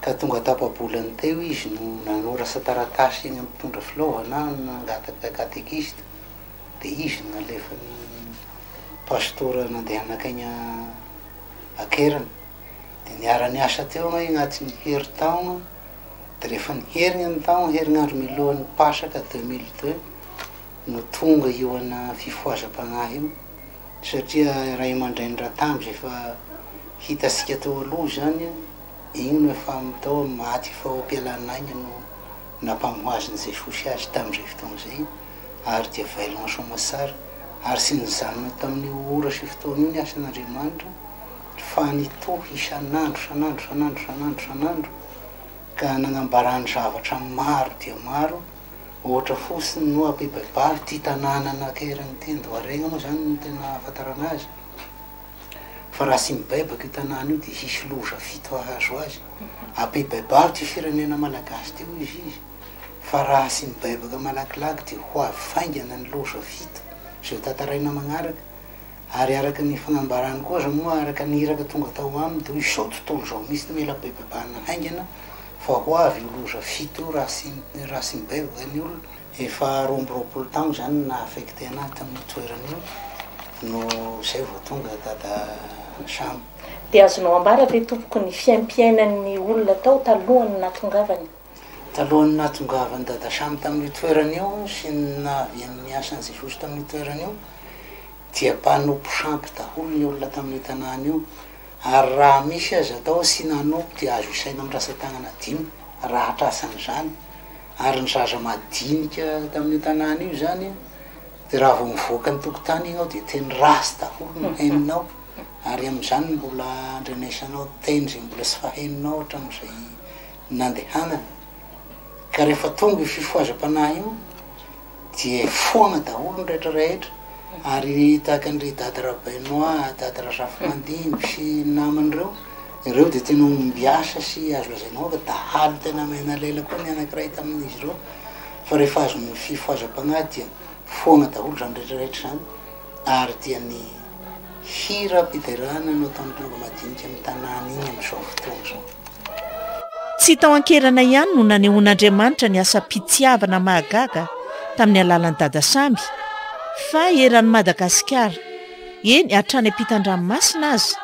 Ka tonga tapa-bolany teo izy no nanorasa taratasy eny amin'ny mpitondra filaovana nangataka katekista, dia izy no nalefan'ny pastora nandeha nankany an-keriny. Dia niara-niasa teo angaha agnaty ny herintaona, dia rehefa ny herigna ny taogna, herinandro mialohan'ny Pasaka deux mille deux, no tonga io ana fifohazam-pagnahy io satria ray aman-drainy Ratambs efa hitasika tao aloha izany igny no efa tao am maty faopialan'aigny no nampamohaziny Jesosy azy tamzay fotoagna zay ary dia vailogno an Soamatsara ary tsy nijanona tamin'io ora sy fotoagna io ny asan'Andriamanitra fa nitohy isan'andro isan'andro isan'andro isan'andro isan'andro ka nagnambarany zavatra maro dia maro Ohatra fotsiny no ampibaibalo ity tanàna nakeriny ity, Andoharengha moa izany no tena ahafantarana azy, fa raha tsy mibaibaka io tanàna io dia hisy loza fito hahazo azy. Ampibaibalo ity firenena malagasy ity hoy izy izy, fa raha tsy mibaibaka malakilaky dia ho avy faingana ny loza fito izay hotantaraina manaraka, ary araka ny fanambarany koa aza moa araka ny iraka tonga tao aminy dia hoy izao tontolo izao mihitsy no mila bebaibahana haingana, Fa ho avy io loza fito io Racing Racing Bay vao eny olona efa roa amby roapolo taona zany na affecté anah tamin'io toerana io no zay vao tonga dada Sam. Dia azonao ambara ve tompoko ny fiaimpiainan'ny olona tao talohan'ny nahatongavany? Talohan'ny nahatongavan'i dada Sam tamin'io toerana io sy ny nahaviany niasa an'i Jesosy tamin'io toerana io dia mpanompo sampy daholo ny olona tamin'io tanàna io Ary raha misy aza atao asiana anobby dia azo isaina amin'ny rantsan-tanana dimy raha hatrasana izany, ary ny zaza madinika tamin'io tanàna io izany dia raha vao mivoaka ny tokotany ianao dia teny ratsy daholo no henonao, ary amin'izany no mbola andrenesanao teny izay mbola tsy fahenonao hatramin'izay nandehanana, ka rehefa tonga io fifohazam-panahy io, Dia foagna daholo ny rehetra rehetra ary tahaka an-dry Dada Rabainoa, Dada Razafimandimby sy ny namany ireo, ireo dia tena ombiasa sy azo lazaina hoe fa dahalo tena maina lela koa ny anankiray tamin'izy ireo fa rehefa azon'ny fifohazam-pagnahy dia foagna daholo izany rehetra rehetra izany ary dia ny Hira am-piderana no ataon'ny mpomba madinika amin'ny tanàna iny amin'izao fotoana izao. Tsy tao an-kerana ihany no nanehoan'Andriamanitra ny asam-pitiavana mahagaga tamin'ny alalan'i Dada Sammy, fa eran'i Madagasikara, eny hatrany am-pitan-dranomasina aza,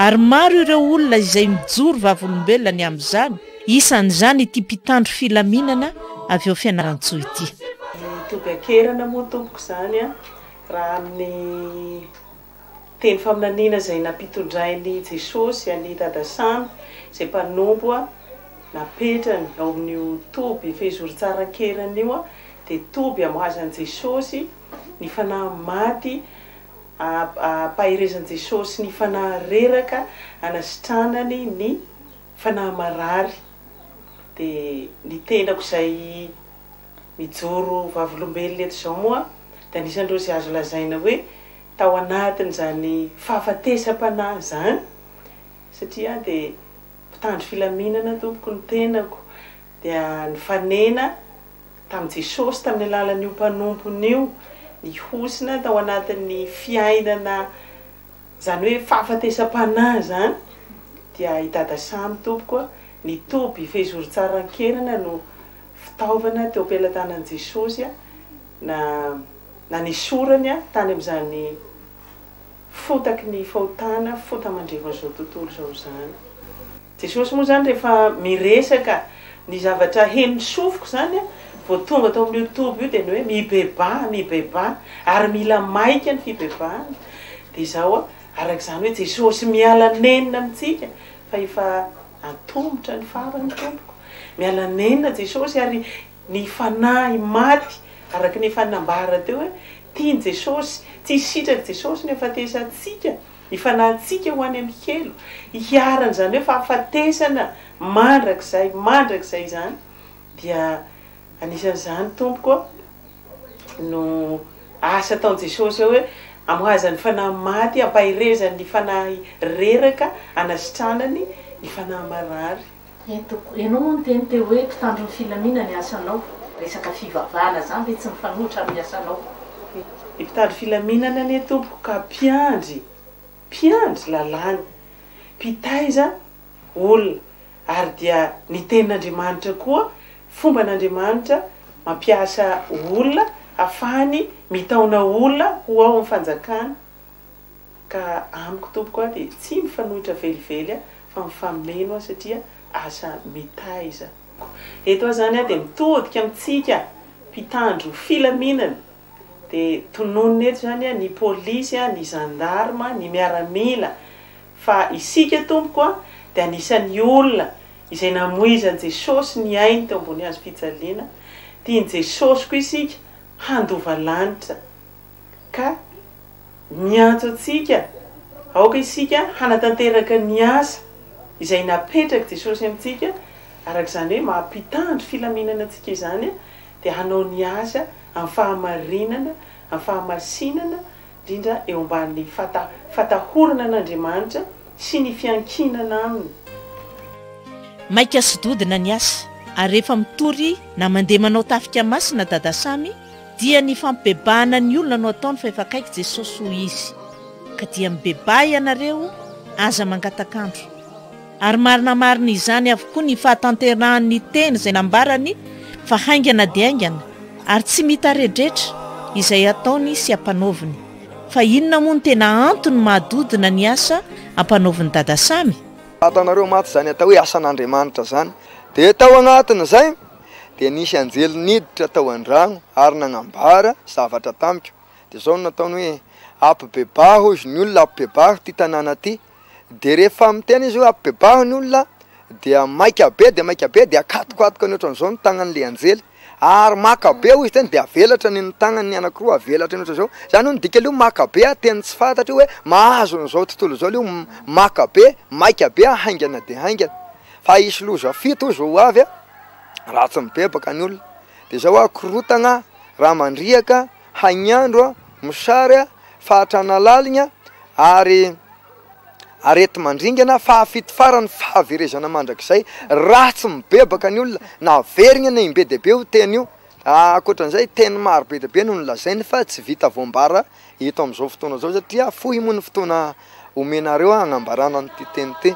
ary maro ireo olona izay mijoro vavolombelona ny amin'izany, isan'izany ity mpitandro filaminana avy ao Fianarantsoa ity. Mitovy an-kerana moa tompoko izany an! Raha amin'ny teny faminaniana izay nampitondrain'i Jesosy an'i Dada Samy, izay mpanompo napetrany ao amin'io toby fehizoron-tsary an-keriny io, dia toby amboazan'i Jesosy ny fanahy maty ampaherezan'i Jesosy ny fanahy reraka anasitranany ny fanahy marary. Dia ny tenako izay. Mijoro ho vavolombelona eto izao moa dia anisan'ireo izay azo lazaina hoe tao anatin'izany fahafatesam-panahy izany, satria aho dia mpitandro filaminana tompoko ny tenako dia nifanena tamin'i Jesosy tamin'ny alalan'io mpanompony io, nihosina tao anatin'ny fiainana izany hoe fahafatesam-panahy izany, dia i Dada Samy tompoko a, nitoby fehizoron-tsara an-kerana no fitaovana teo am-pelatanan'i Jesosy na nanesorany tany amin'izany fotaky ny fahotana fota mandrevan'izao tontolo izao izany. Jesosy moa izany rehefa miresaka ny zavatra henon'ny sofiko izany vao tonga tao amin'io toby io dia ny hoe mibebaha, mibebaha ary mila maika ny fibebahana dia izao araka izany hoe Jesosy miala nenina amintsika fa efa Antomotra ny farany tompoko. Miala nenina Jesosy ary ny fanahy maty araka ny efa nambara teo hoe tiany Jesosy, tsy sitraky Jesosy ny hafatesantsika, ny fanahintsika ho any amin'ny helo, iharan'izany hoe fahafatesana mandrakizay mandrakizay izany dia anisan'izany tompoko ô. no asa ataon'i Jesosy eo hoe amohazany fanahy maty, ampaherezany ny fanahy reraka, anasitranany ny fanahy marary. Eto koa, ianao moa niteny teo hoe mpitandro ny filamina ny asanao. Resaka fivavahana zany ve tsy mifanohitra amin'ny asanao? Ny mpitandro filaminana anie tompoko ka mpiandry, mpiandry lalàna, mpitaiza. olona ary dia ny tenin'Andriamanitra koa fomban'Andriamanitra mampiasa olona hafahany mitaona olona ho ao amin'ny fanjakany ka amiko tompoko aho dia tsy mifanohitra velively aho fa mifameno aho satria asa mitaiza. Eto aho izany aho dia mitodika amintsika mpitandro filaminana dia tononina eto izany ny polisy, ny zandarma, ny miaramila fa isika tompoko dia anisan'ny olona izay namoizan'i Jesosy ny ainy teo ambony hazo fijaliana, tian'i Jesosy koa isika handova lanitra ka miantso antsika aoka isika hanatanteraka ny asa izay napetrak'i Jesosy amintsika araka izany hoe maha mpitandro filaminana antsika izany dia hanao ny azy amin'ny fahamarinana, amin'ny fahamasinana, indrindra eo ambanin'ny fata, fatahorana an'Andriamanitra sy ny fiankinana Aminy. Maika sy dodona ny asa, ary rehefa mitory na mandeha manao tafika masina Dada Samy, dia ny fampibebahana ny olona no ataony fa efa akaiky Jesosy hoy izy, ka dia mibebaha ianareo, aza mangataka andro. Ary marina marina izany avokoa ny fahatanterahan' ny teny izay nambarany fa haingana dia haingana ary tsy mitaredretra izay ataony sy ampanaoviny. Fa inona moa no tena antony mahadodona ny asa ampanaovin'i Dada Samy? Fantanareo mantsy izany atao hoe asan' Andriamanitra izany. Dia tao anatin' izay dia nisy anjely niditra tao an-drano ary nagnambara zavatra tamiko. Dia izao no nataony hoe, Ampibebà hozy ny olona, ampibebà ity tanàna ity. de rehefa miteny izy hoe apibebaho ny olona dia maika be de maika be de akatokatok any ohatran'izao ny tagnan'le anjely ary maka be hoy izy teny de avelatra ny ny tagnany anakiroa avelatra ny ohatran'izao zany hoe ny dikany hoe maka be ah teny tsy fantatro hoe mahazo an'izao tontolo izao leo maka be maika be ah haingana de haingana fa hisy loza fito hozy vao ho avy ah raha tsy mibebaka ny olona de zao ah korotagna raha mandriaka Hainiandro a, mosary a, fahatrana laligna ary areti-mandringana, fahafito farany fahaverezana mandrakizay, raha tsy mibebaka ny olona na averigna na im-be dia be io teny io. Ankoatran'izay, teny maro be dia be no nolazainy fa tsy vita voambara eto amin'izao fotoana izao satria fohy moa ny fotoana omenareo hagnambarana an'ity teny ity.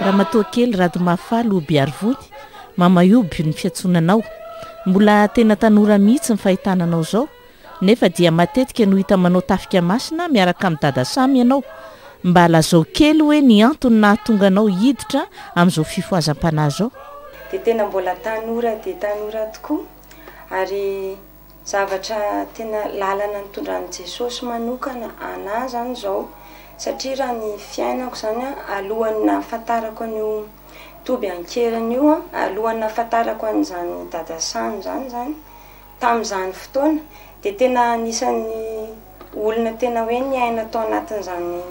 Ramatoakely Radomahafaly Obiarivony, Mamaioby ny fiantsoana anao. Mbola tena tanora mihitsy ny fahitana anao izao, nefa dia matetika no hita manao tafika masina miaraka amin'i Dada Samy ianao. Mba lazao kely hoe ny antony nahatonga anao hiditra amin'izao fifohazam-panahy izao? Dia tena mbola tanora dia tanora tokoa, ary Zavatra tena lalana nitondran'i Jesosy manokana anah izany izao, satria raha ny fiainako izany an, alohan'ny nahafantarako an'io toby an-keriny io an, alohan'ny nahafantarako an'izany Dada Sano izany izany, tamin'izany fotoana, dia tena anisan'ny olona tena hoe niaina tao anatin'izany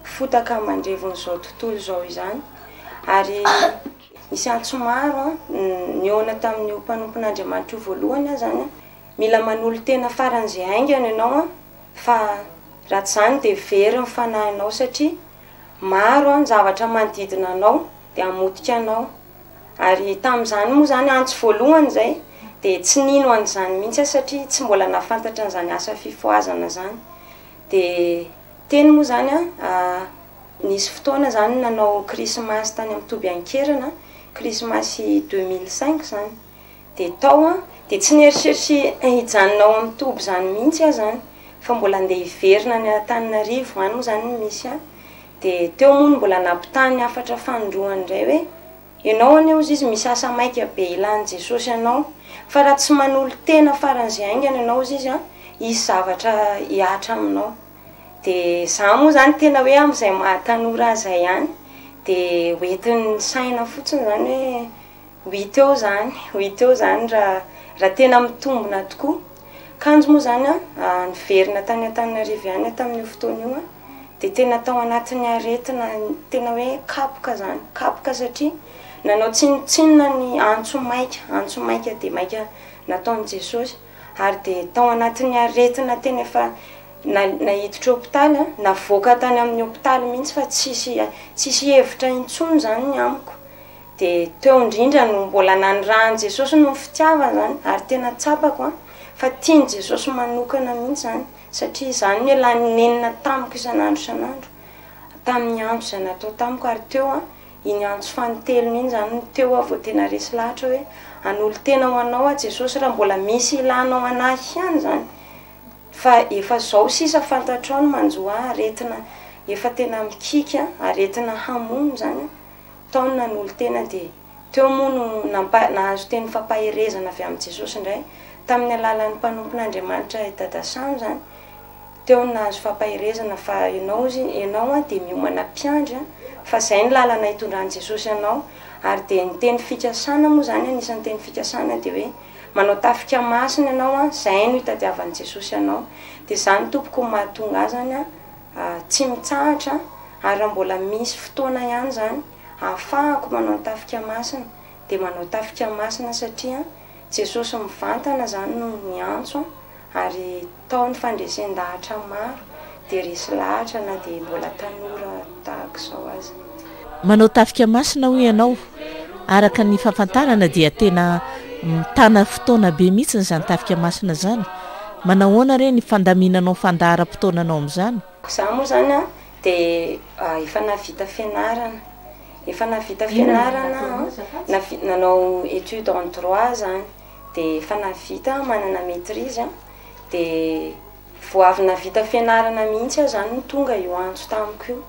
fotaka mandrevon'izao tontolo izao izany, ary. Nisy antso maro nihaona tamin'io mpanompon'Andriamanitra io voalohany aho izany. Mila manolo-tena faran'izay haingana ianao fa raha tsy izany dia very ny fanahinao satria maro ny zavatra manodidina anao dia hamotika anao. Ary tamin'izany moa izany antso voalohany izay dia tsy nino an'izany mihitsy aho satria tsy mbola nahafantatra an'izany asa fifohazana izany. Dia teny moa izany aho Nisy fotoana izany nanao krismasy tany amin'ny toby an-kerana, krismasy deux mille cinq izany. Dia tao aho, dia tsy nieritreritra hijanona ao amin'ny toby izany mihitsy aho izany, fa mbola handeha hiverina any Antananarivo any moa izany no misy ahy. Dia teo moa no mbola nampitahan'ny hafatra fanindroany indray hoe, Ianao anie hozy izy misasa maika be hilan'i Jesosy anao, fa raha tsy manolo-tena faran'izay haingana ianao hozy izy an, hisy zavatra hihatra aminao. dia za moa zany tena hoe amin'izay maha tanora azy zay ihany dia ho entin'ny saina fotsiny zany hoe ho hita eo zany ho hita eo zany raha raha tena mitombina tokoa, kanjo moa zany an niverina tany Antananarivo ihany aho tamin'io fotoana io an dia tena tao anatin'ny aretina tena hoe kapoka zany kapoka satria nanao tsinontsinona ny antso maika antso maika dia maika nataon'i Jesosy ary dia tao anatin'ny aretina tena efa naiditra hopitaly, navoaka tany amin'ny hopitaly mihitsy fa tsisy tsisy hevitra intsony izany ny amiko, dia teo indrindra no mbola nanirahan'i Jesosy noho ny fitiavany izany, ary tena tsapako an, fa tian'i Jesosy manokana mihitsy izany, satria izany no elan'ny nenina tamiko isan'andro isan'andro, tamin'ny antso izay natao tamiko, ary teo an, Iny antso fanintelony iny izany no teo aho vao tena resy lahatra hoe, hanolo-tena ho Anao aho Jesosy raha mbola misy ilanao an'ahy ihany izany, fa efa izao sisa fantatrao ny manjo ahy, aretina efa tena mikiky an, aretina hamono izany an, tao ny nanolo-tena dia teo moa no nampa, nahazo teny fampaherezana avy amin'i Jesosy indray, tamin'ny alalan'ny mpanompon'Andriamanitra i Dada Sam izany, Teo no nahazo fampaherezana fa ianao ozy ianao an dia miomana mpiandry an, fa izay no lalana itondran'i Jesosy anao, ary dia ny teny fikasana moa izany anisan'ny teny fikasana dia hoe manao tafika masina ianao an, izay no itadiavan'i Jesosy anao, dia izany tompoko no mahatonga ahy izany an tsy mitsahatra an, ary raha mbola misy fotoana ihany izany ahafahako manao ny tafika masina dia manao tafika masina satria an Jesosy mivantana izany no niantso an, ary Tao ny fandresen-dahatra maro dia resy lahatra na dia mbola tanora tahaka izao aza. Manao tafika masina hoy ianao, araka ny fahafantarana dia tena mitana fotoana be mihitsy izany tafika masina izany, manahoana re ny fandaminanao fandaharam-potoananao amin'izany? Izaho moa izany an, dia efa nahavita fianarana, efa nahavita fianarana an, nanao étude en droit izany, de efa navita aho manana maitrise an, de vao avy navita fianarana mihitsy aho zany no tonga io antso tamiko io,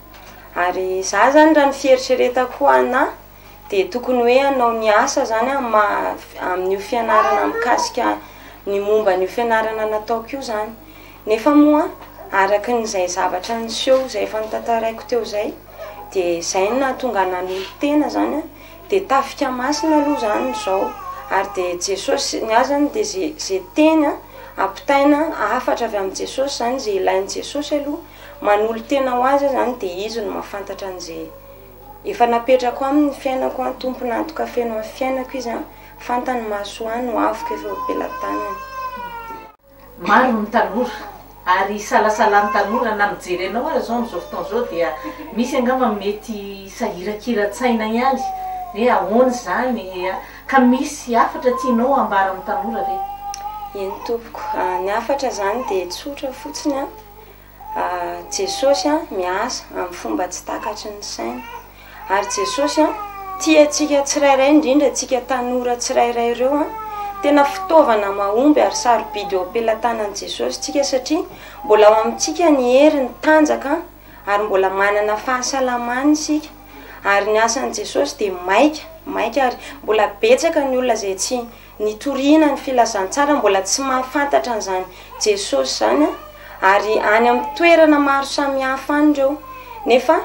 ary za zany raha ny fieritreretako ana de tokony hoe hanao ny asa zany amin'ny maha amin'io fianarana mikasika ny momba an'io fianarana nataoko io zany, nefa moa araka izay zavatra niseho izay efa notantaraiko teo zay de zay no nahatonga ahy nanolo-tena zany an. Dia tafika masina aloha izany izao, ary dia Jesosy, ny ahy izany dia izay izay teny an, ampitaina hafatra avy amin'i Jesosy izany, izay ilain'i Jesosy aloha, manolo-tena ho Azy aho izany dia Izy no mahafantatra an'izay efa napetrako aminy ny fiainako an, tompon'antoka feno amin'ny fiainako Izy an, fantany ny mahasoa ahy, nohaviko efa eo am-pelatanany. Maro ny tanora ary isalasalan'ny tanora na mijery anao ary zao amzao fotoana zao dia misy angamba mety sahirakiran-tsaina ihany hoe ahoana izany ka misy hafatra tianao hambara amin'ny tanora ve? Eny tompoko, ny hafatra izany dia tsotra fotsiny an, Jesosy miasa amin'ny fomba tsy takatry ny saina. Ary Jesosy tia antsika tsirairay, indrindra antsika tanora tsirairay ireo. Tena fitaovana mahomby ary sarobidy eo am-pelatanan'i Jesosy isika, satria mbola ao amintsika ny heriny tanjaka, ary mbola manana fahasalamana isika. Ary ny asan'i Jesosy dia maika, maika, ary mbola betsaka ny olona izay tsy. Nitoriana ny filazantsara mbola tsy mahafantatra an'izany Jesosy izany ary any amin'ny toerana maro samihafa any ireo nefa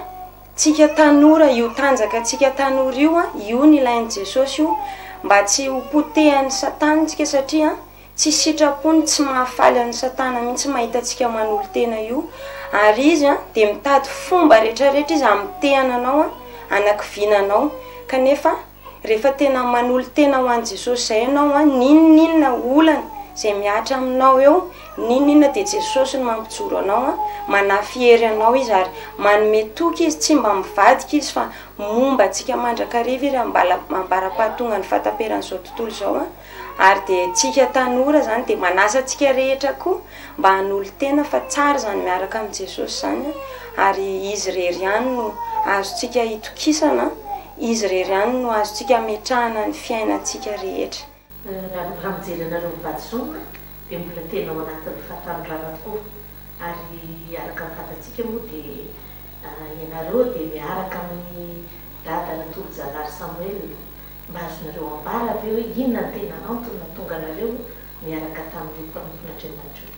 tsika tanora io tanjaka tsika tanora io an io ny ilain'i Jesosy io mba tsy ho potehan'i satana tsika satria tsy sitrapony tsy mahafaly an'i satana mihitsy mahita antsika manolo-tena io ary izy an dia mitady fomba rehetra rehetra izy hamitehana anao an anakiviana anao kanefa Rehefa tena manolo-tena ho an'i Jesosy izay ianao, n'inon'inona olana izay mihatra aminao eo, n'inon'inona dia Jesosy no mampijoro anao, manafy hery anao Izy ary manome toky Izy, tsy mba mivadika Izy fa momba antsika mandrakariva Iry ambala- ambara-pahatongan'ny fahataperan'izao tontolo izao. Ary dia antsika tanora izany dia manasa antsika rehetra koa mba hanolo-tena fa tsara izany miaraka amin'i Jesosy izany ary Izy irery ihany no azontsika itokisana Izy irery ihany no azontsika ametrahana ny fiainantsika rehetra. Raha mijery anareo mivady-soa dia mbola tena ao anatin'ny fahatanoranana tokoa ary araka ny fantatsika moa dia ianareo dia miaraka amin'i Dada Natolojanahary Samuel. Mba azonareo ambara ve hoe inona no tena antony nahatonga anareo niaraka tamin'io mpanompon'Andriamanitra io?